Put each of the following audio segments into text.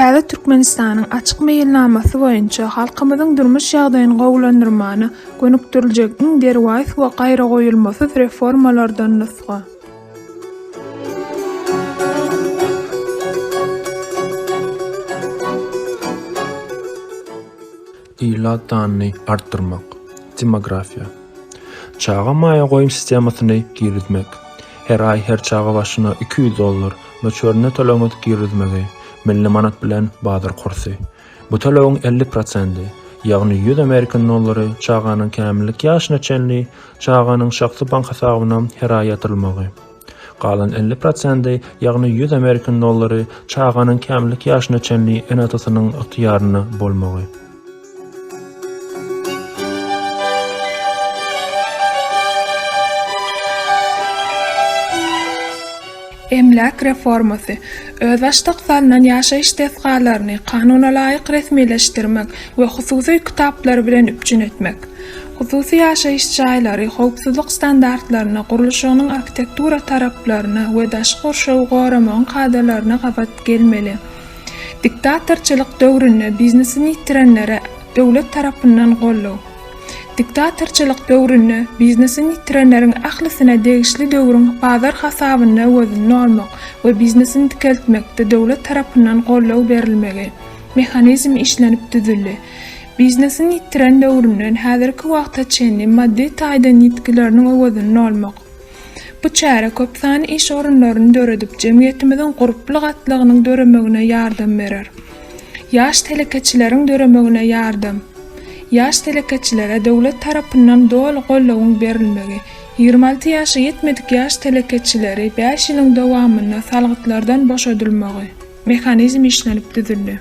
Täze Türkmenistanyň Açyk meýilnamasy boýunça halkymyzyň durmuş ýagdaýyny gowulandyrmana gönükdiriljek iň derwaýys we gaýragoýulmasyz reformalardan nusga. Ilat sanyny artdyrmak, demografiýa. Çaga maýa goýum sistemasyny girizmek, her aý her çaga başyna iki ýüz dollar möçberinde töleg girizmegi, milli manat bilen bazar kursy. Bu tölegiň elli prosendi, ýagny ýüz amerikan dollary çaganyň kämillik ýaşyna çenli çaganyň şahsy bank hasabyna her aý ýatyrylmagy. Galan elli prosendi, ýagny ýüz amerikan dollary çaganyň kämillik ýaşyna çenli ene-atasynyň ygtyýarynda bolmagy. Emläk reformasy, özbaşdak salnan ýaşaýyş desgalaryny kanunalaýyk resmileşdirmek we hususy kitaplar bilen üpjün etmek. Hususy ýaşaýyş jaýlary howpsuzlyk standartlaryna, gurluşygynyň arhitektura taraplaryna we daşky gurşawy goramagyň kadalaryna gabat gelmeli. Diktatorçylyk döwründe biznesini ýitirenlere döwlet tarapyndan goldaw. Diktatorçylyk döwründe biznesini ýitirenleriň ählisine degişli döwrüň bazar hasabyny öwezini almak we biznesini dikeltmekde döwlet tarapyndan goldaw berilmegi. Mehanizm işlenip düzüldi. Biznesini ýitiren döwründen häzirki wagta çenli maddy taýdan ýitgileriniň öwezini almak. Bu çäre köp sany iş orunlaryny döredip, jemgyýetimiziň gurply gatlagynyň döremegine ýardam berer. Ýaş telekeçileriň döremegine ýardam Ýaş telekeçilere döwlet tarapyndan doly goldawyň berilmegi, ýigrimi alty ýaşa ýetmedik ýaş telekeçileri bäş ýylyň dowamynda salgytlardan boşadylmagy, mehanizm işlenip düzüldi.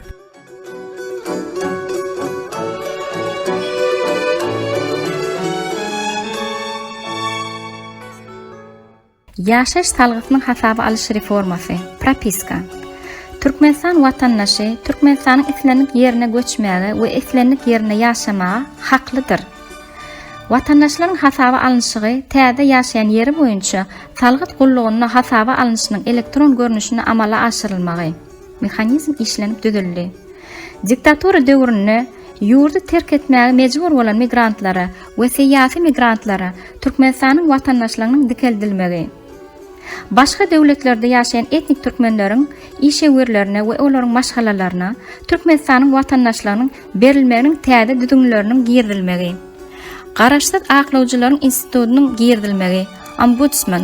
Ýaşaýyş salgysynyň hasaba alyş reformasy, propiska. Türkmenistan watandaşy Türkmenistanyň islendik ýerine göçmäge we islendik ýerinde ýaşamaga haklydyr. Watandaşlaryň hasaba alnyşygy täze ýaşaýan ýeri boýunça salgyt gullugynda hasaba alnyşynyň elektron görnüşinde amala aşyrylmagy. Mehanizm işlenip düzüldi. Diktatura döwründe ýurdy terk etmäge mejbur bolan migrantlara we syýasy migrantlara Türkmenistanyň watandaşlygynyň dikeldilmegi. Başga döwletlerde ýaşaýan etnik türkmenleriň işewürlerine we olaryň maşgalalaryna Türkmenistanyň watandaşlygynyň berilmeginiň täze düzgünleriniň girizilmegi. Garaşsyz aklawjylaryň institutynyň girizilmegi, ombudsman.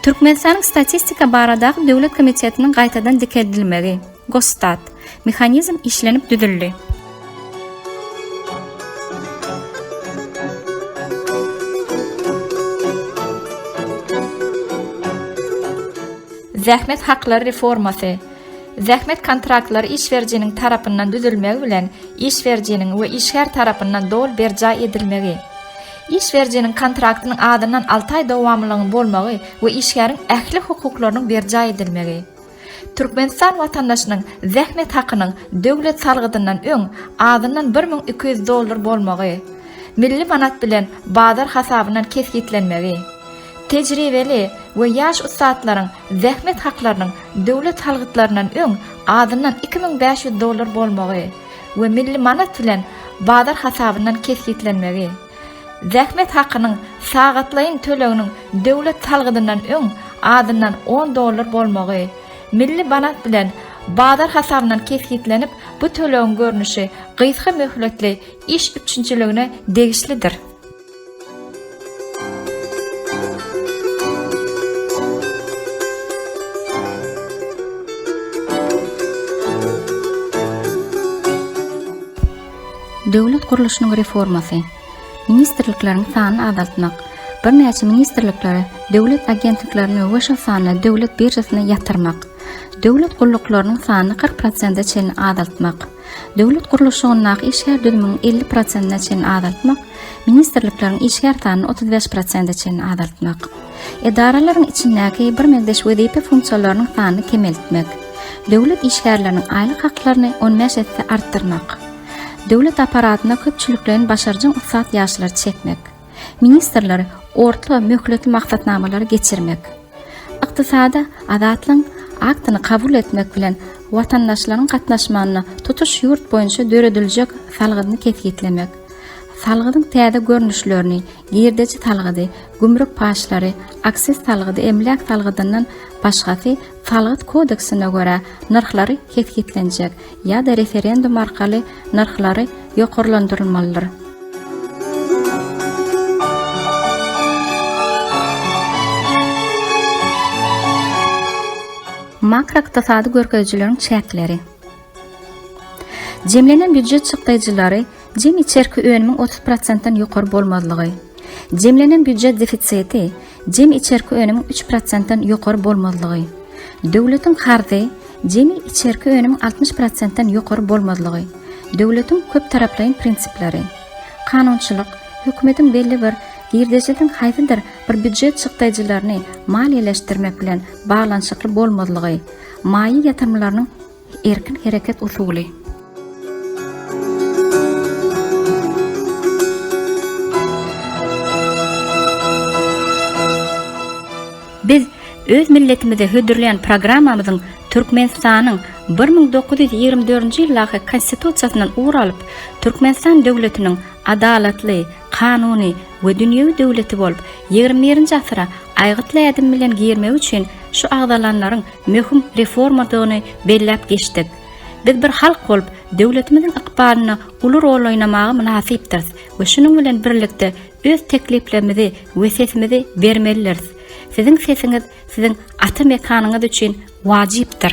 Türkmenistanyň Statistika baradaky döwlet komitetiniň gaýtadan dikeldilmegi, Gosstat, mehanizm işlenip düzüldi. Zähmet haklary reformasy, Zähmet kontraktlary iş berijiniň tarapyndan düzülmegi bilen iş berijiniň we işgär tarapyndan doly berjaý edilmegi. Iş berijiniň kontraktynyň azyndan alty aý dowamlylygynyň bolmagy we işgäriň ähli hukuklarynyň berjaý edilmegi. Türkmenistan watandaşynyň zähmet hakynyň döwlet salgydyndan öň azyndan bir müň iki ýüz dollar bolmagy, milli manat bilen bazar hasabyndan kesgitlenmegi. Tejribeli we ýaş ussatlaryň zähmet haklarynyň döwlet salgytlaryndan öň azyndan iki müň bäş ýüz dollar bolmagy. we milli manat bilen bazar hasabyndan kesgitlenmegi, zähmet hakynyň sagatlaýyn töleginiň döwlet salgydyndan öň azyndan on dollar bolmagy, milli manat bilen bazar hasabyndan kesgitlenip, bu tölegiň görnüşi gysga möhletli iş üpjünçiligine degişlidir. Döwlet gurluşynyň reformasy, ministrlikleriň sanyny azaltmak, birnäçe ministrlikleri, döwlet agentliklerini we şol sanda döwlet biržasyna ýatyrmak, döwlet gulluklarynyň sanyny kyrk prosente çenli azaltmak, Döwlet gurluşygyndaky işgär düzümini elli prosentine çenli azaltmak, ministrlikleriň işgär sanyny otuz bäş prosente çenli azaltmak, edaralaryň içindäki birmeňzeş wezipe funksiýalarynyň sanyny kemeltmek, döwlet işgärleriniň aýlyk haklaryny on bäş esse artdyrmak, döwlet apparatyna köpçülikleýin başarjaň ussat ýaşlary çekmek, Ministrler orta möhletli maksatnamalary geçirmek, Ykdysady azatlygyň Aktyny kabul etmek bilen watandaşlaryň gatnaşmagynda tutuş ýurt boýunça dörediljek salgydyny kesgitlemek, salgydyň täze görnüşlerini, girdeji salgydy, gümrük paçlary, aksiz salgydy, emläk salgydyndan başgasy Salgyt kodeksine görä nyrhlary kesgitlenjek Ýa-da referendum arkaly nyrhlary ýokarlandyrylmalydyr. Makroykdysady görkezijileriň çäkleri. Jemlenen býujet çykdaýjylary Jemi içerki önümiň otuz prosentden ýokary bolmazlygy. Jemlenen býujet defisiti, jemi içerki önümiň üç prosentden ýokary bolmazlygy. Döwletiň karzy, jemi içerki önümiň altmyş prosentden ýokary bolmazlygy. Döwletiň köptaraplaýyn prinsipleri. Kanunçylyk, hökümetiň belli bir girdejisiň haýsydyr bir býujet çykdaýjylaryny maliýeleşdirmek bilen baglanyşykly bolmazlygy, maýa ýatyrymlarynyň Erkin hereket usuly. Biz öz milletimize hödürleýän programmamyzyň Türkmenistanyň bir müň dokuz ýüz ýigrimi dördünji ýyldaky Konstitusiýasyndan ugur alyp, Türkmenistan döwletiniň adalatly, kanuny we dünýewi döwleti bolup, ýigrimi birinji asyra aýgytly ädim bilen girmegi üçin şu agzalanlaryň möhüm reformadygyny belläp geçdik. Biz bir halk bolup, döwletimiziň ykbalynda uly rol oýnamaga mynasypdyrys we şunuň bilen birlikde öz tekliplerimizi we sesimizi bermelidiris. Siziň sesiňiz siziň ata mekanyňyz üçin wajypdyr.